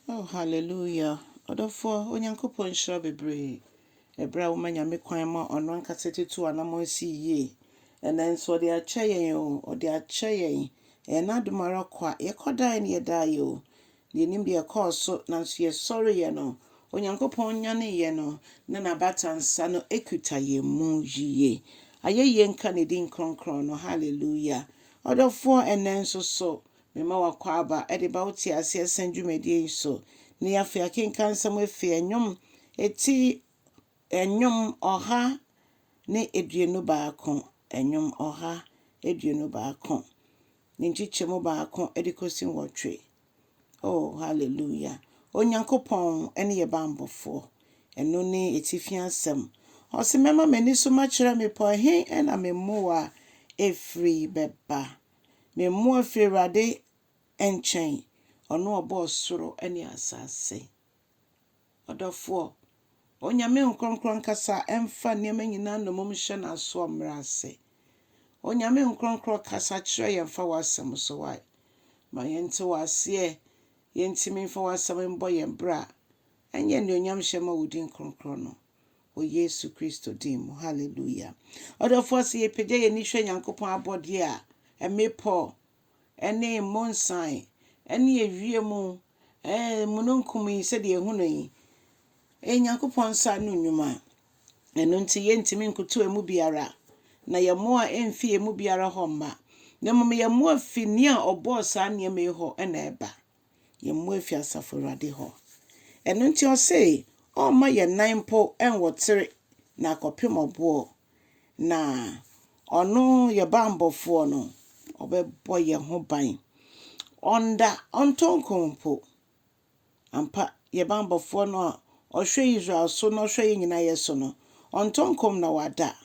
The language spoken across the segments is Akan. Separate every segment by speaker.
Speaker 1: Oh hallelujah ɔdɔfoɔ Onyankopɔn nhyira bebree ɛberɛ a woma Nyame kwan ma ɔno ankasa tutu anamɔn si yie ɛnɛ nso ɔde akyɛ yɛn o ɔde akyɛ yɛn ɛyɛ n'adom ara kwa yɛkɔ daeɛ ne yɛdaa yɛ o na yɛnim deɛ ɛkɔɔ so nanso yɛsɔre yɛ no Onyankopɔn nyane yɛ no na n'abatansa no ɛkuta yɛn mu yie ayɛyie nka ne din kronkron no hallelujah ɔdɔfoɔ ɛnɛ nso so Mema wo akwaaba de ba wo teaseɛ sɛn dwumadie yi so. Nnɛ yi afei akenkan nsɛm efi ɛnwom eti ɛnwom ɔha ne aduonu baako ɛnwom ɔha aduonu baako ne nkyekyɛmu baako de kɔsi nwɔtwe. Oh hallelujah! Onyankopɔn ne yɛ bammɔfoɔ. Ɛno ne atifi asɛm. Ɔse mɛma m'ani so makyerɛ mmepɔ he na me mmoa efiri bɛba. Me mmoa firi Awurade nkyɛn, ɔno a ɔbɔɔ soro ne asase. Ɔdɔfoɔ, Onyame Nkorɔnkorɔ ankasa mfa nneɛma nyinaa nnommum nhyɛ n'asoɔ mmrɛ ase. Onyame Nkorɔnkorɔ kasa kyerɛ yɛn fa w'asɛm so, wai? Ma yɛnte wo aseɛ, yɛntumi mfa w'asɛm mmɔ yɛn bra, ɛnyɛ anuonyamhyɛ mma wo din kronkron no. wɔ Yesu Kristo din mu. Hallelujah. Ɔdɔfoɔ sɛ yɛpagya yɛn ani hwɛ Nyankopɔn abɔdeɛ a, mmepɔ, ɛne mmonsan, ɛne ɛwie mu, ɛɛ, mununkum yi sɛdeɛ ɛhu no yi, ɛyɛ Nyankopɔn nsa no nnwuma. Ɛno nti yɛntumi nkoto ɛmu biara, na yɛn mmoa ɛmfi ɛmu biara hɔ mma, na mmom yɛn mmoa fi nea ɔbɔɔ saa nneɛma yi hɔ ɛna ɛba. yɛn mmoa afi asafo Awurade hɔ. Ɛno nti ɔsee ɔremma yɛn nan mpo nwɔtere na akɔpem ɔboɔ, na ɔno yɛ banbɔfoɔ no ɔbɛbɔ yɛn ho ban. Ɔnda, ɔntɔ nko mpo. Ampa, yɛ banbɔfoɔ no a ɔhwɛ Israel so na ɔhwɛ yɛn nyinaa yɛ so no, ɔntɔ nkom na wada.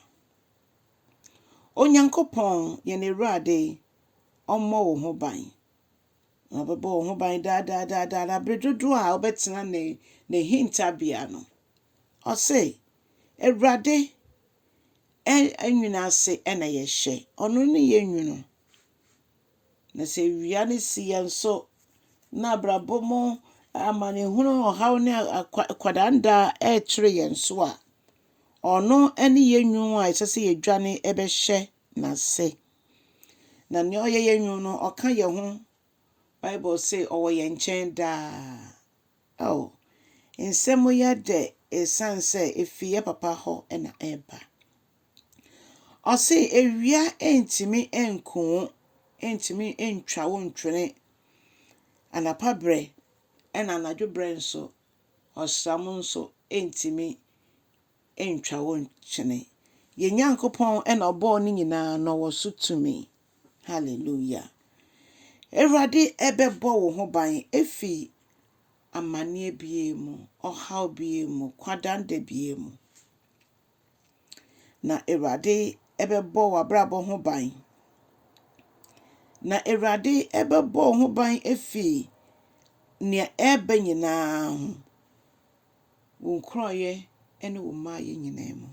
Speaker 1: Onyankopɔn, yɛn Awurade, ɔmmɔ wo ho ban. Na ɔbɛbɔ wo ho ban daa daa daa daa, na bere dodoɔ a wobɛtena ne ne hintabea no. Ɔse, Awurade nwunu ase na yɛhyɛ, ɔno ne yɛn nwunu. Na sɛ awia no si yɛn so, na abrabɔ mu amanehunu, ɔhaw ne akwadanda ɛrekyere yɛn so a, ɔno ne yɛn nwunu a ɛsɛ sɛ yɛdwane bɛhyɛ n'ase. Na nea ɔyɛ yɛn nwunu no, ɔka yɛn ho. Bible se ɔwɔ yɛn nkyɛn daa. Ao, nsɛm yɛ dɛ esiane sɛ efi yɛn Papa hɔ na ɛba. Ɔse, Awia ntumi nku wo, ntumi ntwa wo ntwene. Anapa berɛ na anadwo berɛ nso, ɔsram nso ntumi. ntwa wo nkyene. Yɛn Nyankopɔn na ɔbɔɔ ne nyinaa na ɔwɔ so tumi. Hallelujah. Awurade ɛbɛbɔ wo ho ban efi amanneɛ bie mu, ɔhaw bie mu, kwadanda bie mu. Na Awurade ɛbɛbɔ w'abrabɔ ho ban. Na Awurade ɛbɛbɔ wo ho ban efi nea ɛreba nyinaa ho. wo nkorɔeɛ ne wo mmaeɛ nyinaa mu.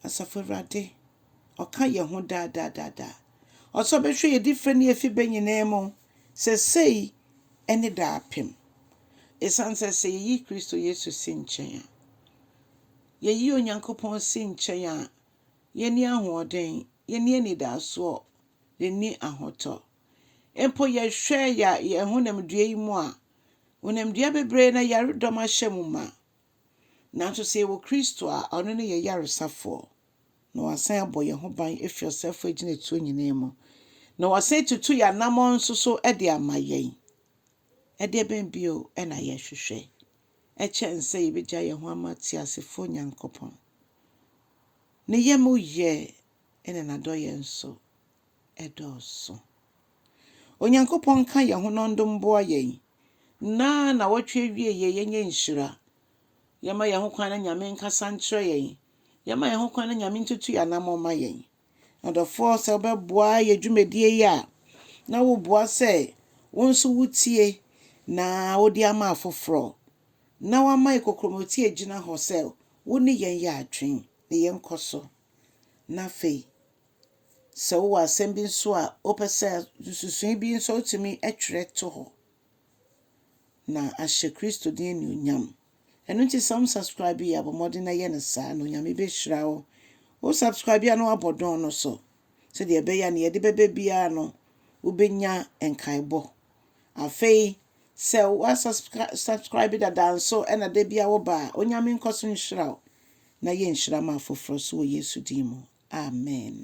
Speaker 1: Asafo Awurade, ɔka yɛn ho daa daa daa daa. Ɔsɛ ɔbɛhwɛ yɛn di fɛ ne yɛfi bɛ nyinaa mu sɛsɛi ne daapem. Ɛsiane sɛ sɛ yɛyi Kristo Yesu si nkyɛn a, yɛyi Onyankopɔn si nkyɛn a, yɛnni ahoɔden, yɛnni anidaasoɔ, yɛnni ahotɔ. Mpo yɛhwɛ yɛn honamdua yi mu a, Honamdua bebree na yaredɔm ahyɛ mu ma. Nanso sɛ yɛwɔ Kristo a, ɔno ne yɛn yaresafoɔ, na wasan abɔ yɛn ho ban afiri ɔsɛefoɔ agyinatuo nyinaa mu, na wasan atutu yɛn anammɔn nso so de ama yɛn. Ɛdeɛ bɛn bio na yɛhwehwɛ kyɛn sɛ yɛbɛgya yɛn ho ama teasefoɔ Nyankopɔn? Ne yam yɛ na n'adɔeɛ nso dɔɔso. Onyankopɔn nka yɛn ho na ɔndo mboa yɛn na nawɔtwe awieɛ yɛnyɛ nhyira. Yɛma yɛn ho kwan na Nyame nkasa nkyerɛ yɛn. Yɛma yɛn ho kwan na Nyame ntutu yɛn anamɔ ma yɛn. Adɔfoɔ sɛ wobɛboa yɛ dwumadie yi a na woboa sɛ wo nso wotie na wode ama afoforɔ na wama yɛ kokromoti agyina hɔ sɛ wone yɛn yɛ adwen ne yɛnkɔ so na afei Sɛ wowɔ asɛm bi nso a wopɛ sɛ nsusuwii bi nso a wotumi twerɛ to hɔ na ahyɛ Kristo din anuonyam. Ɛno nti sɛ wonsubscribe yi a, bɔ mmɔden na yɛ no saa na Onyame bɛhyira wo. Wosubscribe a na woabɔ dɔn no so sɛdeɛ ɛbɛyɛ a nea yɛde bɛbɛ biara no wobɛnya nkaebɔ. Afei sɛ woasubscribe dada nso na da bi a woba a, Onyame nkɔ so nhyira wo na yɛ nhyira ma afoforɔ so wɔ Yesu din mu. Amen.